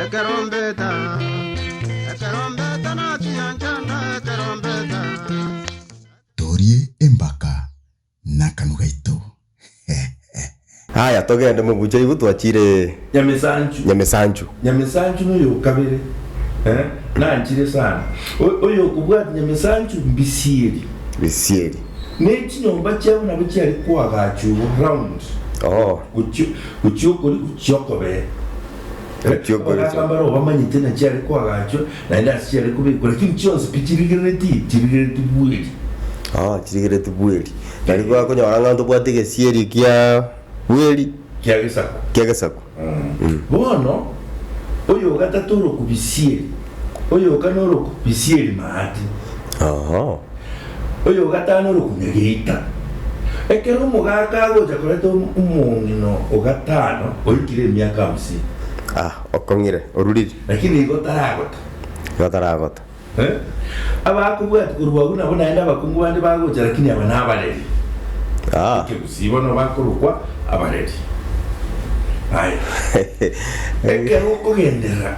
Ekerombeta, ekerombeta nachiya nchanda ekerombeta. Torie embaka nakanu gaito Aya togende mobucha igo twachire. Nyamesanchu. Nyamesanchu. Nyamesanchu noyokabere eh nanchire sana oyokobwati Nyamesanchu Mbisieri. Mbisieri. Nechinyomba chiabo nabo chiare koagacha igo round. Ooh. Gochio. Gochia okori gochia okobee. Gochia okori Amagato gochia- ambare obamanyete na chiare koagachwa, naende ase chiare kobekwa, lakini chionsi pi chirigereretie, chirigereretie bweri. Oh, chirigereretie bweri. Nari bakonyora ng'a ntobwati egesieri kia bweri, Kia gesaku. kia gesaku. Bono, oyo ogatato oroku bisieri, oyo oka noroku bisieri maati. Oho. Oyogatano rokunya geita. Ekero omogaaka agocha koreta omong'ina o gatano oikire emiaka hamsini. Ah, okong'ire, oruriri. Lakini igo taragota. Igo taragota. Eh, abakobwati korwa agwo nabo naende abakungu bande bagocha, lakini aba nabareri. Ah. Ekegusii bono bakorokwa abareri. Aye. Ekero okogenderera.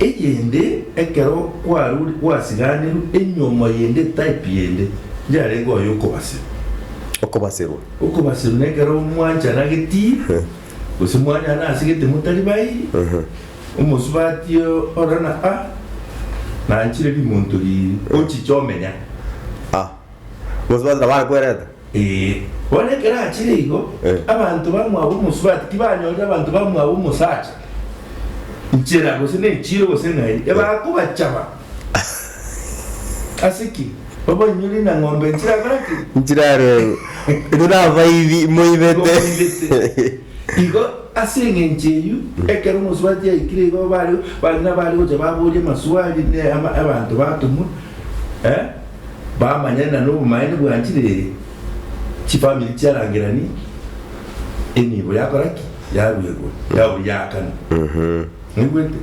Eyende, ekero kwarure gwasiganerwe enyiomo yende, type yende, yarenge oyo okobasirwa. Okobasirwa. Okobasirwa nekero mwanchana getii, gose mwanyana ase gete motari bayi, omosubati ore na a, nanchire rimonto riiri, ochiche omenya. A, omosubati nabo arakwerete? Ee, bono ekero achire igo, Eh. abanto bamwabo omosubati tibanyorire abanto bamwabo omosacha nchera gose nechiiro gose ng'ai, ebara kobachaba. Ase ki? Babanyore na ng'ombe nchiragore ki? nchirarebu intwe nabaibi moibete Ngomoibete. Igo ase eng'encho eyio, ekero omosubati yaikire igo, bare bari nabare gocha baboria amaswali ne ama- abanto batomwa, bamanyane na nobomaene bwa enchiri eye, chifamiri chiarangeranie, enibo yakora ki? Yarua igoro, yaoria yaakana. Mwaigwete?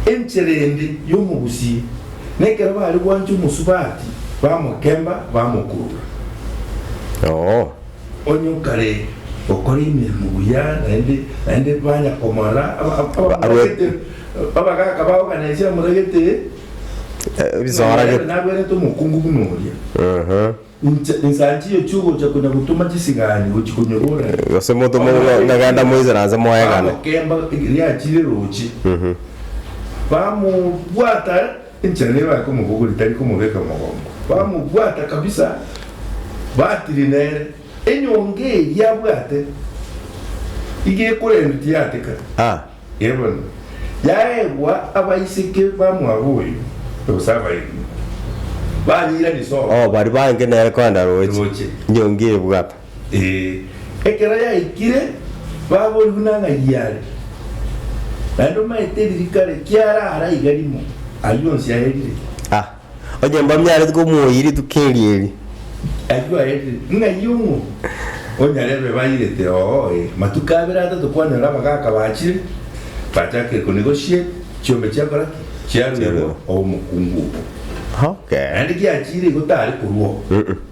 Enchera ende y'omogusie, nekero bare gwancha omosubati, bamokemba, bamokurura. Onye okare gokora emeremo buya naende naende banya komora abamoragete, abagaaka bao gana inse amoragete, Ebisooro nonye naende nagwenerete omokungu buna oria. Inche insanchiyo chi'ogocha konya gotoma chisigani gochia konyebora ng'a, Gose motome ng'a- ng'agenda moisere anse moegane. Bagokemba riachire roche, bamobwata Enchera nigo bakomobogori tari komobeka mogongo. Bamobwata kabisa, batiri nere. Enyonga eria abwate iga ekorendwa tiyatekana. Ah. Ee bono, yaegwa abaiseke ba mwabo oyo, gose abairi, banyeirania isongo. Oh, baria baange nere korenda roche. Roche. Nyonga ebwata. Ee, ekero yaikire baboirwe nang'ai are, naende omaete ririka rie kiaraara iga rimo, ayio onsi aerire. A! Onye mbamia areti komoyia rituko erio erio. Ayio aerire. Ng'ai ong'o onyarebe bairete? Oo, ee. Matuko abere atato kwanyora abagaka bachire, bachakire konegotiate, chiombe chiakora ki? Chiaruegwa Chiaruegwa. obomokungu obo. Okay. Naende giachiire igo tare korwao. Mm-mm.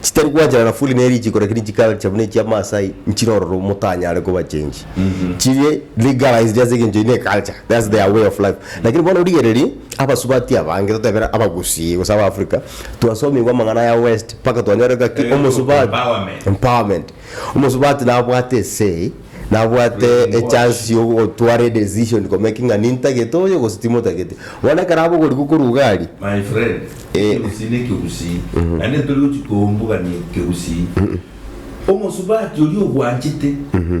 Chitari gwanchana na fuli ne richiko lakini chikara chiabu ne chia Maasai nchire ororo motanyare koba change. Chire legalized ase egencho eye ne culture. That's their way of life. Lakini bono origererie abasubati abange totebera abagusii gose aba Africa twasomigwa amang'ana aya west mpaka twanyore ngaki Egencho omosuba empowerment. empowerment. Omosubati nabwate esegi, nabwate echance yogotwara edecision komaking ng'a nintagete oyo gose timotagete. Bono ekero abe ogorigwa koruga aria. My friend, ekegusii ne ekegusii, naende ntori gochia kombugania ekegusii. Omosubati oria obwanchete,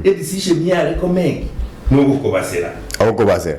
edecision yare komake, nogokobasera. Agokobasera.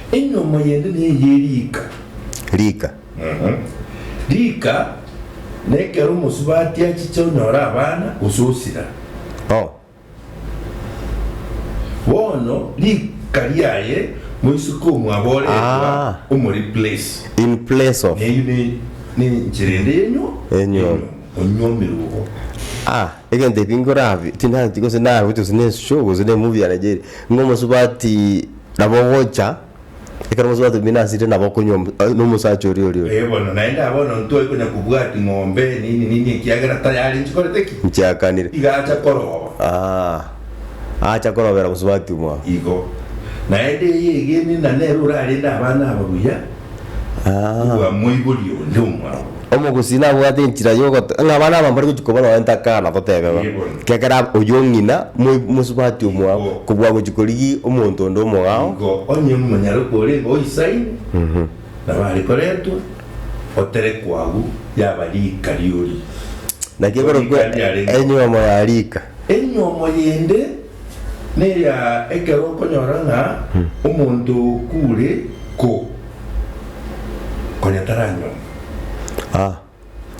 Enyomo yende neye ye riika. Riika. Riika nekero omosubati achiche onyore abana gose osira. O. Bono riika riaye moiseke omwaboretwa Ah. omoreplace. In place of. Eyio ne ne enchera ende yenyo Enyomo. onyomerwe obo. Ah, egento ebi ngorabi, tinanti gose nagocha gose nensusu gose nemubi ya Nigeria, ng'omosubati. Nabo ogocha, ekero bonsi batebia, Buna asire nabo okonywa omo- eh, nomosacha oria oria oria. Ee bono, naende aa bono ntwai konya kobwati ng'ombe nini nini ekiagera tayari nchikorete ki? Nchiakanire. Iga acha koroba. Aa, acha korobera bonsi batumwa. Igo. Naende eye egeni na nere orarende abana aba buya, Igwa, moiborie onde omwabo. Omogusii nabwate enchera yogote. Ng'a abana aba mbare gochia koba nonya ntakana totebe ng'a Yebono. Gekera ab oyio ng'ina moi mosubati omwao Igo. kobua gochia korigi omonto onde omogao. Igo onye omonyaroke orenge oisaine nabo are koretwa, oterekwa agwo yaba rika ri'oria. Naki Korika ekorokwa riarenge enyiomo ya rika. Enyiomo yende. Neya ekero okonyora ng'a omonto okure ko, konya taranyuoma. Ah,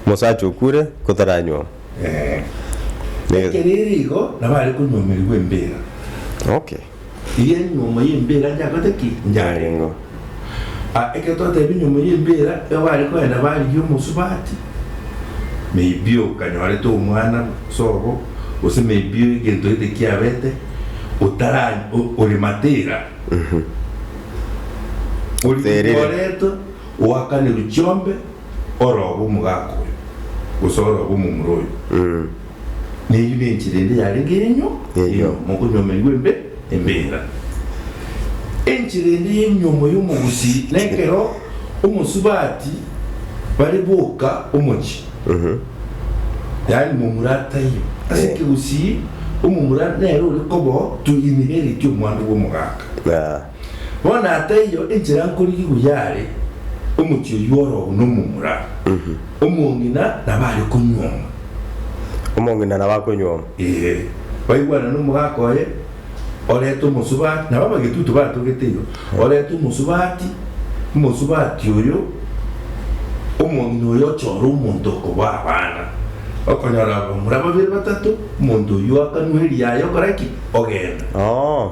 omosacha okure ko taranyuoma. Ee. Ekero ere igo, nabo are konyuomerigwa embera. Okay. Eria enyuomo y'embera njakorete ki? Njareng'o. Ah, ekero twatebire nyuma y'embeera, ekero bare kogenda barigia omosubati, maybe okanyorete omwana sobo, gose maybe egento gete kiabete, otara o- ore matera, Oterire. origoretwe, oakanerwe chiombe, oroobe omogaka oyo, gose oroobe omomura oyo, neyio nenchera ende yarenge yenyu enyomo, mokonyomerigwa embe embera. Enchera ende yenyomo y'omogusii nekero omosubati bare boka omochie, yaani momura ataiyo ase ekegusii, omomura nere ore koba to inherit omwando bw'omogaka. Bono ataiyo, enchera nkorigigwa yare omochie oyio orobu na omomura, omong'ina nabo are konyuoma. Omong'ina nabo akonyuoma. Ee, baigwana nomogaka oye, oreta omosubati, nabo abagetutu batogete igo, oreta omosubati, omosubati oyo omong'ina oyo ochore omonto okoboa abana. Okonyora abamura babere batato, omonto oyio akanwa eriaye okora ki? Ogenda. Oo.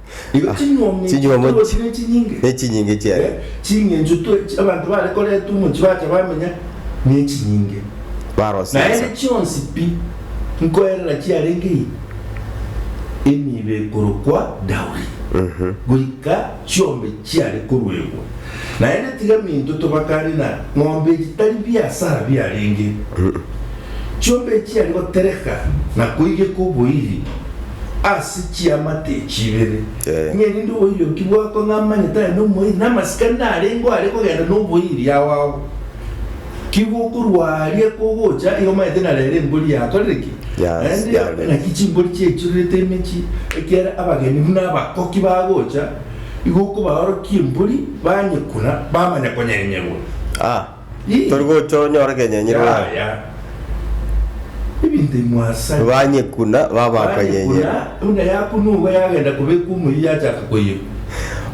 Igo chinyuomi Chinyuomo chitoro chi- chire chinyinge. nechinyinge chiaye. Eh, Ching'encho twe chi- abanto bare koreta omo chibacha bamenya nechinyinge. Barosia Naende insa. chionsi pi nkoerera chiarenge ime emibe korokwa Dauri, goika chiombe chiare koruegwa. Naende tiga minto tobakane na ng'ombe echi tari biasara biarenge. Chiombe echiare gotereka na koigeka oboiri ase chiamate echi ibere, ng'a erinde oboiri oki bwakwe ng'a amanyete aye nomoiri, na amasikani arengeo are kogenda noboiri ao ao. Ki gokorwa aaria kogocha, igo omanyete ng'a rero embori yakorire ki? Yaende yakorire. Naki chimbori chiaichorerete emechie, ekiagera abageni buna abakoki bagocha, igo okobaorokia embori, banyekuna, bamanya konyenyerwa. Ah. Tori gocha onyore kenyenyi rwanyekuna babakanyenyeri.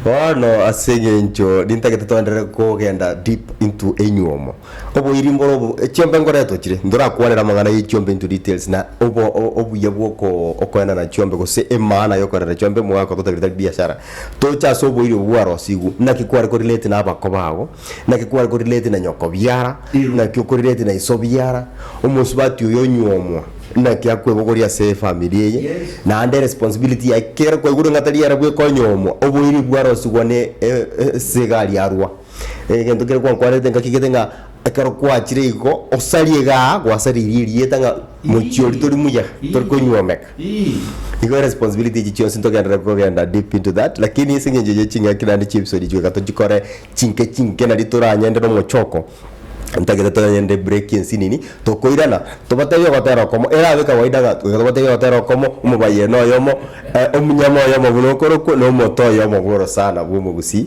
Bono ase engencho rintagete toenderere kogenda deep into enyuomo. Oboiri mbore obo chiombe ngoretwe chire ntorakwanera amang'ana ye chiombe into details na obuya bwa okoenana chiombe gose emaana ya okoenana chiombe omogaka ototabire tari biashara. Toche ase oboiri obo bwarosigwe. Naki kware ko relate na abako bago. Naki kware koriretie na nyoko biara, naki okoriretie na iso biara, omosubati oyo onyuomwa, naki akwebogoria ase efamiri eye, naende responsibility yaye kere kwaigwa ring'ata riare bweka onyuomwa, oboiri bwarosigwa ne e- e- esega riarwa. Egento kere kwankwarerete ngaki gete ng'a ekero kwachire igo, osarie igaa, gwasaririe erieta ng'a mochie oria tori muya, tori konyuomeka. Nigo eresponsibility echi chionsi ntogenderere kogenda deep into that lakini ase eng'encho ye ching'aki naende chiepisodi echi goika tochikore chinke chinke nari toranyende nomochoko ntagete toranyende break ensi nini tokoirana tobatebie ogotera okomo erabe kawaida ng'a goika tobatebie ogotera okomo omobayieno oyomo omunyama oyomo buna okorokwo na omoto oyomo bw'orosana bw'omogusii.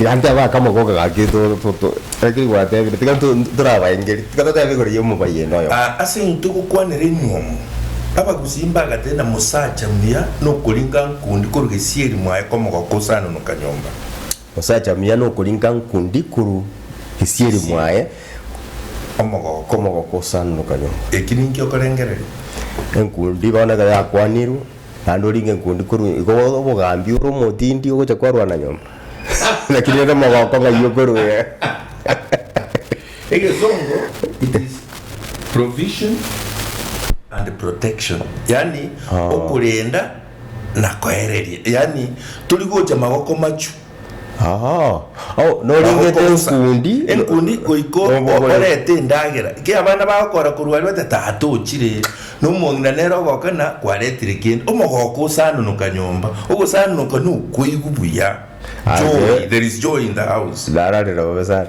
Gachia bakamogoka gaki toro toto ekeri gwatebire tiga torabaengeri tiga totebe igoro y'omobaia ende oyomo. Aa ase eng'encho togokwanera emiomo, abagusii mbagate na mosacha muya nokoringa nkundi korwa gesieri mwaye komogoka osanonoka nyomba. Mosacha muya nokoringa nkundi korwa gesieri mwaye komogoka osanonoka nyomba. Eki ninki okorengereria? Enkundi bono ekero yakwanirwe. naende oringe nkundi korwa igo bobe obogambi ore omotindi ogocha kwarwana nyomba lakini ore omogoko ng'ai okoruera Egesongo, it is provision and protection, yaani okorenda na koereria, yaani tori gocha magoko machu. Aa, oh, norengete Nagokobosa. enkundi. enkundi goiko Obogori. orete endagera ki abana bagokora korwa aria bate tatochire nomong'ina nere ogokana kwaretire kende omogoko osanonoka nyomba ogosanonoka nokoigwa buya joy Aye. there is joy in the house Nararera bobe sana.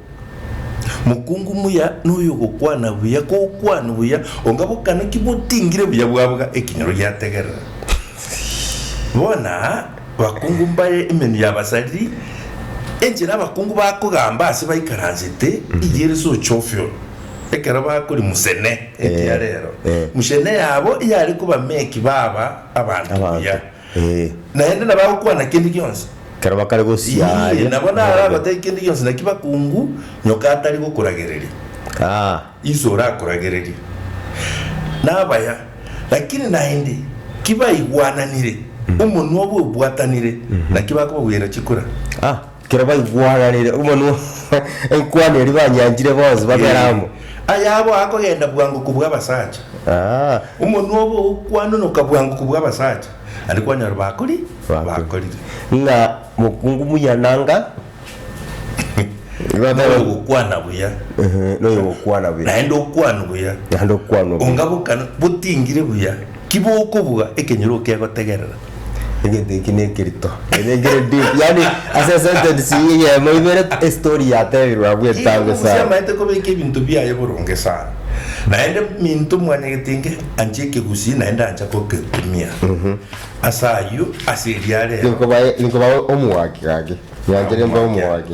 Mokungu muya noyogokwana buya kokwana buya onga bokana ki botingire buya bwabga ekinyoro giategerera. Bona bakungu mbaye emenwa y'abasariri, enchera abakungu bakogamba ase baikaransete iga ere socha ofio ekero bakori musene ekiarero musene yabo yare koba meki baba abanto buya. Ee. Naende nabagokwana kende gionsi. Ekero bakare gosiaria. Ii, nabo naragotebie kende gionsi, naki bakungu, nyoka atari gokoragereria. Aa. Inse orakoragereria. Nabaya, lakini naende ki baigwananire, omonwa obo obwatanire, naki bakobabuyaira chikura. Aa. Ekero baigwananire omonwa enkwano eria banyanchire bonsi babere amo. Ayabo akogenda bwango kobua abasacha, Aa. omonwa obo ogokwanonoka bwango kobua abasacha, naende kwanyora bakori bakorire. Ng'a mokungu muya nanga. Noyo ogokwana buya, Ehe, noyo ogokwana buya. naende okwanu buya, Naende okwanwa buya. ongabokana botingire buya. Ki bokobua ekenyoro okegotegerera? Egento eki nekerito kenya nkere deep yaani ase esentence eye eyemo ibere estory yatebirwe abwo Ki etambe bokobua sana. siamaete kobeka ebinto biaye boronge sana? Naende minto mwanyagete inge anche ekegusii naende ancha kogekumia. Ase ayio ase eria rero. Ninkobae ninkobae omoaki gaki. Nyanchire mbe omoaki.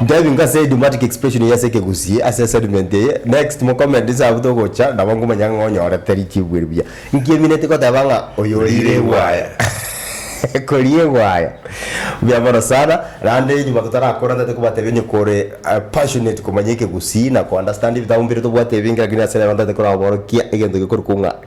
Diving ka ase idiomatic expression eye ase ekegusii ase assignment eye. Next mo comment inse abwo togocha nabo nkomanya ng'a onyorete richibu eri buya. Inki emineti goteba ng'a oyo oriire egwaya? Koria egwaya. Buya mono sana. Naende nyuma totarakora tari kobatebia onye kore passionate komanya ekegusii na ko understand ebitabu mpire tobwate ebinge lakini ase rero ntaete koraborokia egento gekorokwo ng'a.